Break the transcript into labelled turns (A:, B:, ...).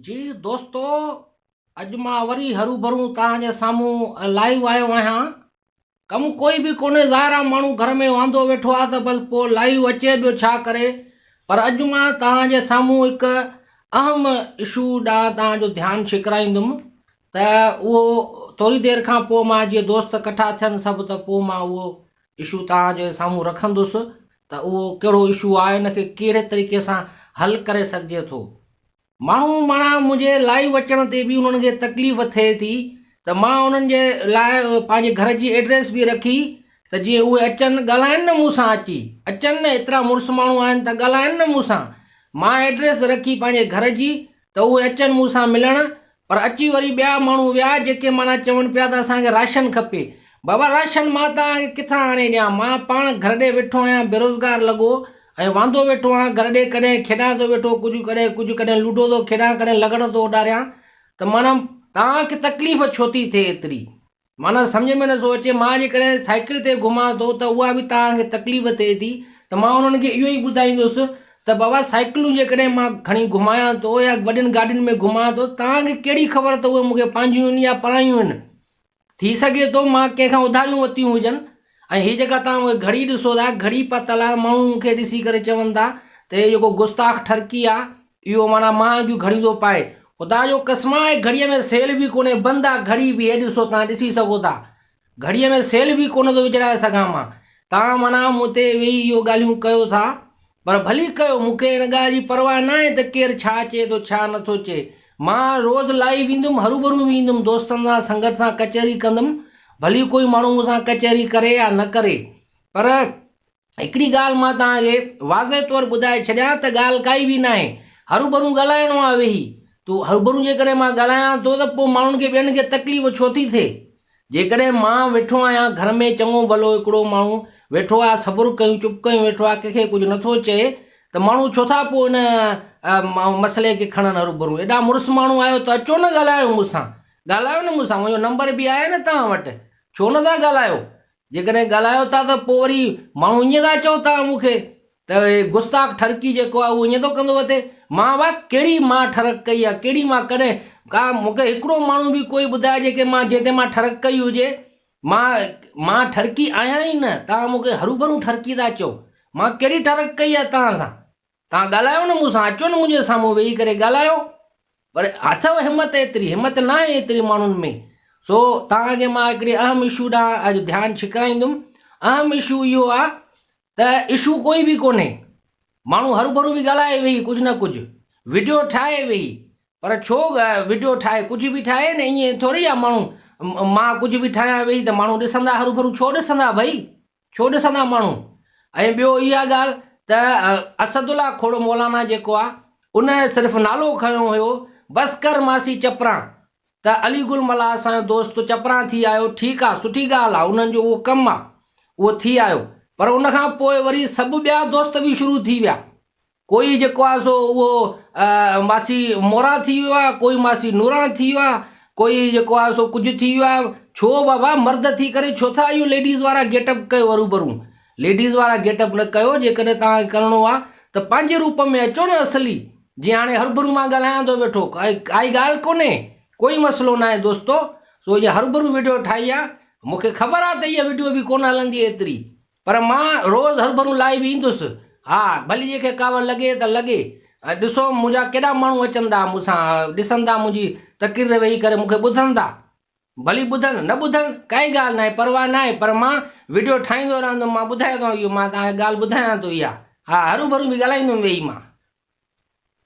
A: جي دوستو اڄ مان وري هروڀرو توهان جي سامهون لائيو آيو آهيان ڪم ڪوئي به ڪونهي ظاهر آهي ماڻهو گهر ۾ واندو ويٺو آهي ته بس پوء لائيو اچي ٻيو ڇا ڪري پر اڄ مان توهان جي سامهون هڪ اهم اشو ڏانهن توهان جو ڌيان ڇڪرائيندم ته اهو ٿوري دير کان پوء مان جي دوست ڪٺا ٿين سڀ ته پوء مان اهو اشو توهان جي سامهون رکندس ته اهو ڪهڙو اشو آهي ان کي ڪهڙي طريقي سان حل ڪري سگهجي ٿو ماڻهو مانا منهنجي لائيو اچڻ تي به انهن کي تڪليف ٿئي ٿي ته مان انهن جي لاء پنهنجي گهر جي ايڊريس به رکي ته جيئن اهي اچن ڳالهائن نه مون سان اچي اچن نه ايترا مڙس ماڻهو آهن ته ڳالهائن نه مون سان مان ايڊريس رکي پنهنجي گهر جي ته اهي اچن مون سان ملڻ پر اچي وري ٻيا ماڻهو ويا جيڪي معنيٰ چون پيا ته اسان کي راشن کپي بابا راشن مان توهان کي ڪٿان آڻي ڏيان مان پاڻ گهر ڏي ويٺو آهيان بيروزگار لڳو ۽ واندو ويٺو آهيان گهر ڏي ڪڏهن کيڏان ٿو ويٺو ڪجهه ڪڏهن ڪجهه ڪڏهن لوڊو ٿو کيڏان ڪڏهن لغڙ ٿو اڏاريان ته معنيٰ توهان کي تڪليف ڇو ٿي ٿئي ايتري معنيٰ سمجهه ۾ نٿو اچي، مان جيڪڏهن سائيڪل تي گهمان ٿو ته اها به توهان کي تڪليف ٿئي ٿي ته مان انهن کي اهو ئي ٻڌائيندس ته بابا سائيڪلون جيڪڏهن مان کڻي گهمايان ٿو يا وڏين گاڏين ۾ گهمان ٿو توهان کي ڪهڙي خبر ته اهي مون کي پنهنجيون هن يا پرايون هن ٿي سگهي ٿو مان ڪنهن کان اڌاريون ورتيون هجن ۽ هي جيڪا توهان اهي گهڙي ڏسو ٿا گهڙي پتل آهي ماڻهو مون کي ڏسي ڪري چون ٿا ته هي جيڪو گستاخ ٺرڪي آهي اهو معنيٰ مان اڳيون گهڙيون ٿو پائي. خدا جو قسم آهي گهڙيء ۾ سيل به ڪونهي بند آ گهڙي به هي ڏسو توهان ڏسي سگهو ٿا گهڙيء ۾ سيل به ڪونه ٿو وجهرائي سگهان مان توهان معنيٰ مون تي ويهي اهو ڳالهيون ڪيو ٿا پر ڀلي ڪيو مون کي ان ڳالهه جي پرواهه ناهي ته ڪير ڇا چئي ٿو ڇا نه ٿو چئي مان روز لائيو ايندم هروڀرو به ايندم دوستن سان سنگت سان ڪچهري ڪندم ڀلي ڪوئي ماڻهو مون سان ڪچهري ڪري يا نه ڪري پر هڪڙي ڳالهه مان توهان کي واضح طور ٻڌائي ڇڏيان ته ڳالهه ڪائي به ناهي هروڀرون ڳالهائڻو آهي ويهي تو هروڀرون جيڪڏهن مان ڳالهايان ٿو ته پوء ماڻهن کي ٻين کي تڪليف ڇو ٿي ٿئي جيڪڏهن مان ويٺو آهيان گهر ۾ چڱو ڀلو هڪڙو ماڻهو ويٺو آهي صبر ڪيون چپ ڪيون ويٺو آهي ڪنهن کي ڪجهه نٿو چئي ته ماڻهو ڇو ٿا پوء ان مسئلي کي کڻن هروڀرون ايڏا مڙس ماڻهو آهيو ته اچو نه ڳالهايو مون سان ڳالهايو نه مون سان منهنجو نمبر به آهي نه توهان وٽ ڇو نٿا ڳالهايو جيڪڏهن ڳالهايو ٿا ته پوء وري ماڻهو ائين ٿا چئو توهان مون کي ته هي گستاخ ٺرڪي جيڪو آهي اهو ائين ٿو ڪندو اٿئي. مان واء ڪهڙي مان ٺرڪ ڪئي آهي ڪهڙي مان ڪڏهن ڪا مون کي هڪڙو ماڻهو به ڪوئي ٻڌائي جيڪي مان جنهن تي مان ٺرڪ ڪئي هجي. مان مان ٺرڪي آهيان ئي نه توهان مون کي هروڀرو ٺرڪي ٿا چئو. مان ڪهڙي ٺرڪ ڪئي آهي توهان سان. توهان ڳالهايو نه مون سان، اچو نه منهنجي سامهون ويهي ڪري ڳالهايو. پر اٿئو همت ايتري، همت ناهي ايتري ماڻهن ۾. سو توهان کي مان هڪڙي اهم اشو ڏانهن اڄ ڌيان ڇڪرائيندم. اهم اشو اهو آ ته اشو ڪوئي به ڪونهي. ماڻهو هروڀرو به ڳالهائي ويهي ڪجهه نه ڪجهه، وڊيو ٺاهي ويهي. پر ڇو وڊيو ٺاهي، ڪجهه به ٺاهي نه ائين ٿوري آ ماڻهو مان ڪجهه به ٺاهيان ويهي ته ماڻهو ڏسندا هروڀرو ڇو ڏسندا ڀئي. ڇو ڏسندا ماڻهو؟ ۽ ٻيو اها ڳالهه ته اسد الله کوڙو مولانا جيڪو آ ان صرف نالو کنيو هيو بس ڪر ماسي چپران ته علي گل ملاح اسان جو دوست تو چپران ٿي آيو ٺيڪ آ سٺي ڳالهه آ انهن جو اهو ڪم آ اهو ٿي آيو پر ان کان پوء وري سڀ ٻيا دوست به شروع ٿي ويا ڪوئي جيڪو آهي سو اهو ماسي موران ٿي ويو آهي ڪوئي ماسي نوران ٿي ويو آهي ڪوئي جيڪو آهي سو ڪجهه ٿي ويو آهي ڇو بابا مرد ٿي ڪري ڇو ٿا اهو ليڊيز وارا گيٽ اپ ڪيو ارو برو ليڊيز وارا گيٽ اپ نه ڪيو جيڪڏهن توهان کي ڪرڻو آهي ته پنهنجي روپ ۾ اچو نه اصلي جي هاڻي هربرو مان ڳالهايان ٿو ويٺو ڪائي ڳالهه ڪونهي ڪوئي مسئلو ناهي دوستو سو اهي هربرو ويڊيو ٺاهي آهي مونکي خبر آهي ته اها ويڊيو به ڪونه هلندي ايتري پر مان روز هرڀرون لاهي به ايندس. ها، ڀلي جنهن کي ڪاوڙ لڳي ته لڳي. ۽ ڏسو، منهنجا ڪيڏا ماڻهو اچندا، مون سان ڏسندا، منهنجي تقرير ويهي ڪري مون کي ٻڌندا. ڀلي ٻڌن، نه ٻڌن، ڪائي ڳالهه ناهي، پرواهه ناهي، پر مان وڊيو ٺاهيندو رهندم، مان ٻڌايو ٿو اهو، مان توهان کي ڳالهه ٻڌايان ٿو اها. ها، هروڀرون به ڳالهائيندم ويهي مان.